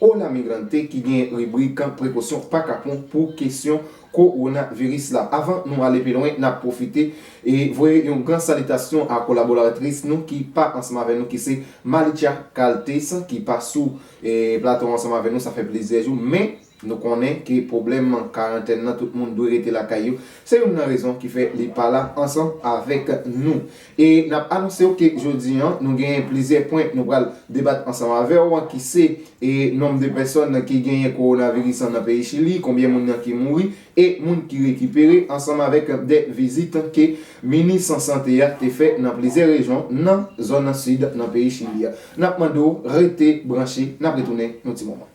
Hola Migrante ki gen ribrik prekosyon pa kapon pou kesyon kowonaviris la. Avan nou ale pi lwen, n ap pwofite voye yon gran salitasyon a kolaboratris nou ki pa ansanm avè nou ki se Malica Caltes ki pa sou plato an ansanm avè nou sa fè plizyè jou men nou konnen ke pwoblèm karantèn nan tout moun dwe rete lakay yo se youn nan rezon ki fè li pa la ansanm avèk nou. E n ap anonse w ke jodi an nou genyen plizyè pwen nou pral debat ansanm avè w an ki se, e Nonb de pèsòn ki genyen kowonaviris an nan peyi Chili, konbyen moun nan ki mouri e moun ki rekipere ansanm avèk de vizit ke minis sante a te fè nan plizyè rejyon nan zòn sid nan peyi Chili a. N ap mande w rete branche, n ap retounen yon ti moman.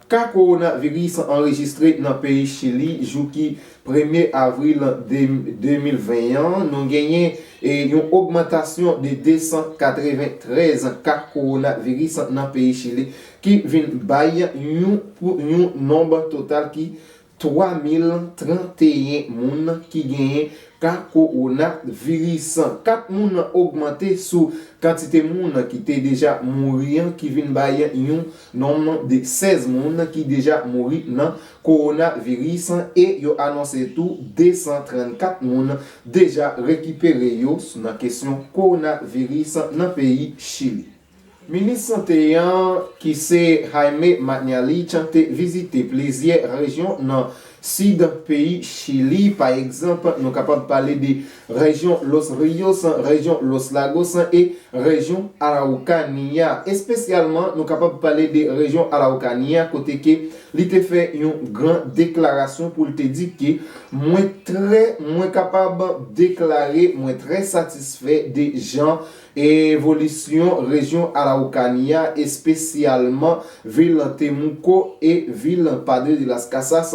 Ka kowona viris anrejistre nan peyi Chili jou ki premye avril 2020 an, nou genyen yon ogmantasyon de 293 ka kowona viris nan peyi Chili ki vin bay yon nonb total ki 3,031 moun ki genyen ka kowona viris. 4 moun ogmante sou kantite moun ki te deja mouri an ki vin bay yon nonm de 16 moun ki deja mouri nan kowona viris e yo anonse tou 234 moun deja rekipere yo nan kesyon kowona viris nan peyi Chili. Minis sante an ki se Jaime Mañalich te vizite plizyè rejyon nan sid peyi Chili, pa egzanp nou kapab pale de rejyon Los Ríos, rejyon Los Lagos e rejyon Araucania. Espesyalman nou kapab pale de rejyon Araucania kote ke li te fè yon gran deklarasyon pou l te di ke mwen trè mwen kapab deklare mwen trè satisfè de jan Evolisyon rejyon Araukania, espesyalman vil Temuco e vil Padre de las Casas,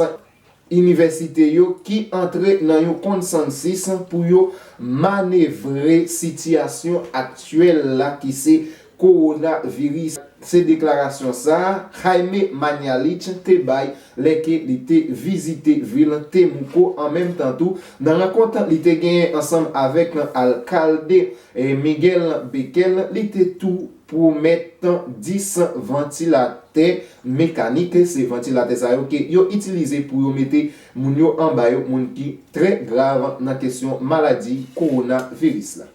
inivèsite yo ki antre nan yon konsansis pou yo manevre sitiyasyon aktyèl la ki se kowonaviris, se deklarasyon sa a Jaime Mañalich te bay lè ke li te vizite vil Temuco an menm tan tou nan rankont li te genyen ansanm avèk alkalde Miguel Bequel li te tou pwomèt 10 vantilatè mekanik se vantilatè sa yo ke yo itilize pou yo mete moun yo anba yo moun ki trè grav nan kesyon maladi kowonaviris la.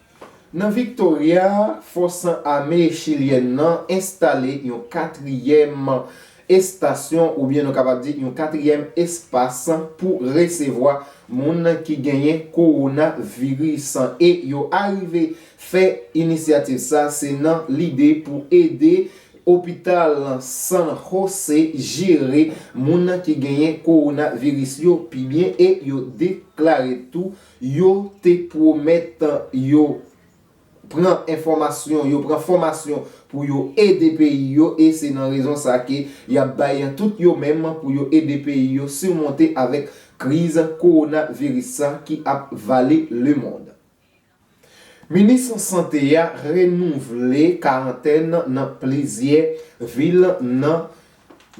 Nan Victoria, fòs ame chilyèn nan enstale yon katriyèm estasyon oubyen nou kapab di yon katriyèm espas pou resevwa moun ki genyen kowona viris e yo arive fè inisyativ sa se nan lide pou ede opital San Jose jere moun ki genyen kowona viris yo pi byen e yo deklare tou Yo te pwomèt yo pran enfòmasyon, yo pran fòmasyon pou yo ede peyi yo e se nan rezon sa ke y ap bay tout yo menm pou yo ede peyi yo simonte avèk kriz kowonaviris sa ki ap vale lemond. Minis sante a renouvle karantèn nan plizyè vil nan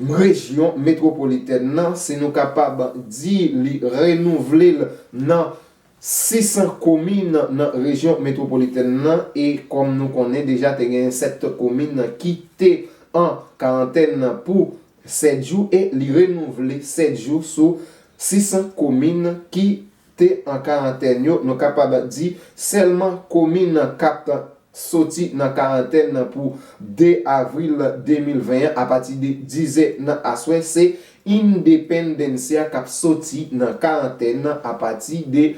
M rejyon metwopolitèn nan, si nou kapab di li renouvle l nan 600 komin nan rejyon metwopolitèn nan e kòm nou konnen deja te gen 7 komin ki te an karantèn pou 7 jou e li renouvle 7 jou sou 600 komin ki te an karantèn yo, nou kapab di sèlman komin nan Kap t soti nan karantèn nan pou 2 avril 2020 an apati de 10 zè nan aswè, se Independencia kap soti nan karantèn nan apati de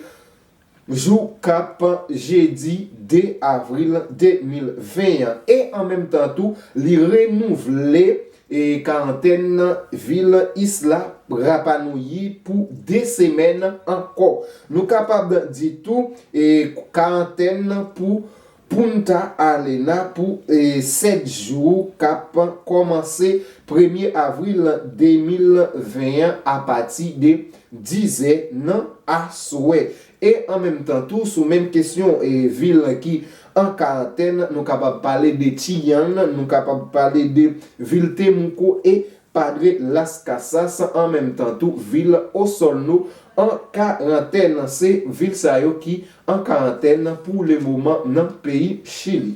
jou kap jedi 2 avril 2020 an e an menm tan tou li renouvle E karantèn nan vil Isla Rapa Nui pou 2 semèn ankò. Nou kapab di tou e karantèn nan pou Punta Arlena pou 7 jou kap kòmanse premye avril 2020 an apati de 10 zè nan aswè. E an menm tan tou sou menm kesyon vil ki an karantèn nou kapab pale de Chillán, nou kapab pale de vil Temuco e Padre Las Casas an menm tan tou vil Osorno an karantèn. Se vil sa yo ki an karantèn pou le moman nan peyi Chili.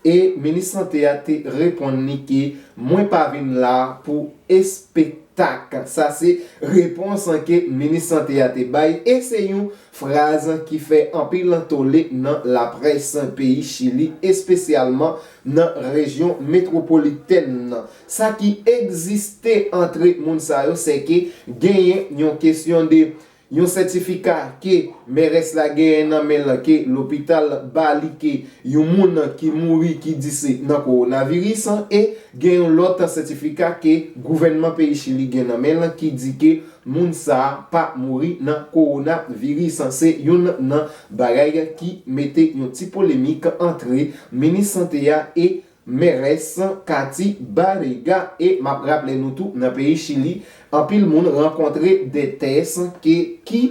E minis sante a te reponn li ke mwen pa vin la pou espektak. Sa se repons ke minis sante a te bay e se yon fraz ki fè anpil tole nan laprès peyi Chili espesyalman nan rejyon metwopolitèn nan. Sa ki egziste antre moun sa yo se ke genyen yon kesyon de Yon sètifika ke mères la genyen nan men l ke lopital ba li ke yon moun ki mouri ki di se nan kowonaviris e gen yon lòt sètifika ke gouvènman peyi Chili gen nan men l ki di ke moun sa a pa mouri nan kowonaviris. Se youn nan bagay ki mete yon ti polemik antre minis sante a e Mères, Katy, Barriga e map raple nou tou nan peyi Chili anpil moun rankontre de tès ke ki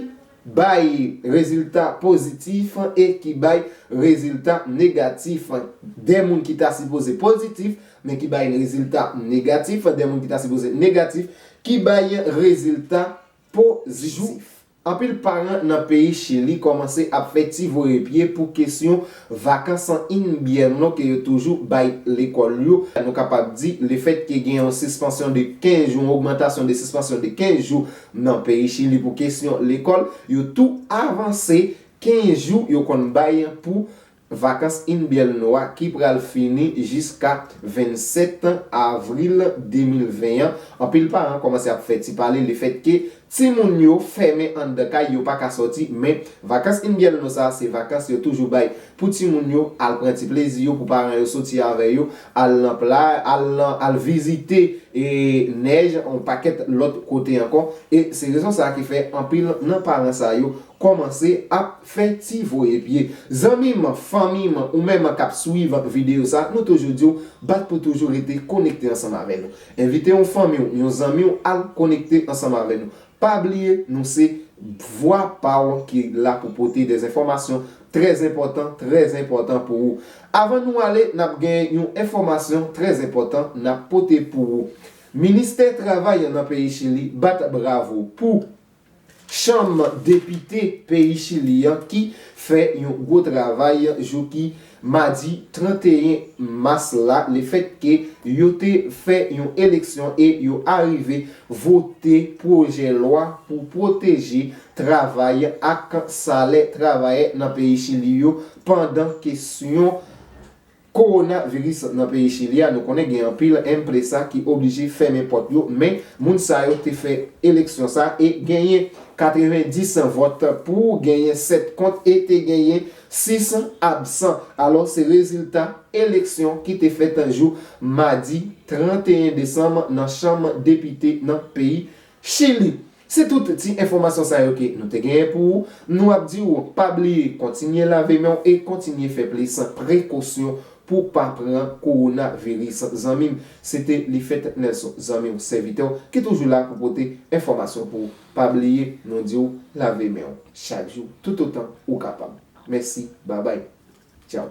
bay rezilta pozitif e ki bay rezilta negatif, de moun ki ta sipoze pozitif men ki bay rezilta negatif, de moun ki ta sipoze negatif ki bay rezilta pozitif. Anpil paran nan peyi Chili kòmanse ap fè ti voye pye pou kesyon Vakans an Inbierno ke yo toujou bay lekòl yo. Nou kapab di, lefèt ke gen yon sispansyon de 15 jou, yon ogmantasyon de sispansyon de 15 jou nan peyi Chili pou kesyon lekòl, yo tou avanse 15 jou yo konn bay pou Vakans Inbyèlno a ki pral fini jiska 27 avril 2020 an, anpil paran kòmanse ap fè ti pale lefèt ke timoun yo fèmen anndan kay, yo pa ka sòti, men Vakans Inbyèlno sa a se vakans yo toujou bay pou timoun yo al pran ti plezi yo, pou paran yo sòti avè yo al nan pla, al nan, al vizite nèj, yon pakèt lòt kote ankò e se rezon sa a ki fè anpil nan paran sa yo Kòmanse ap fè ti voye pye. Zanmi m, fanmi m, ou menm k ap swiv videyo sa, nou toujou di w, bat pou toujou rete konekte ansanm avè nou. Envite yon fanmi w, yon zanmi w al konekte ansanm avè nou. Pa bliye nou se vwa pa w ki la pou pote de enfòmasyon trè enpòtan, trè enpòtan pou ou. Avan nou ale, n ap gen yon enfòmasyon trè enpòtan n ap pote pou ou. Ministè travay nan peyi Chili bat bravo pou. Chanm depite peyi Chili an ki fè yon gwo travay jou ki madi 31 mas la lefètke yo te fè yon eleksyon e yo arive vote pwojè lwa pou pwoteje travay ak salè travayè nan peyi Chili yo pandan kesyon Kowona viris nan peyi chili a nou konnen gen anpil empresa ki oblije fèmen pòt yo men moun sa yo te fè eleksyon sa e genyen 90 vòt pou genyen 7 kont e te genyen 6 absan alò se rezilta eleksyon ki te fèt jou madi 31 desanm nan chanm depite nan peyi chili. Se tout ti enfòmasyon sa yo ke nou te genyen pou ou, nou ap di ou pa bliye kontinye lave men w e kontinye fè plis prekosyon pou w pa pran kowona viris zanmi m, se te Lifèt Nelson zanmi w sèvitè w ki toujou la pou pote enfòmasyon pou ou, pa bliye nou di w lave men w chak jou toutotan ou kapab. Mèsi babay. Tchao.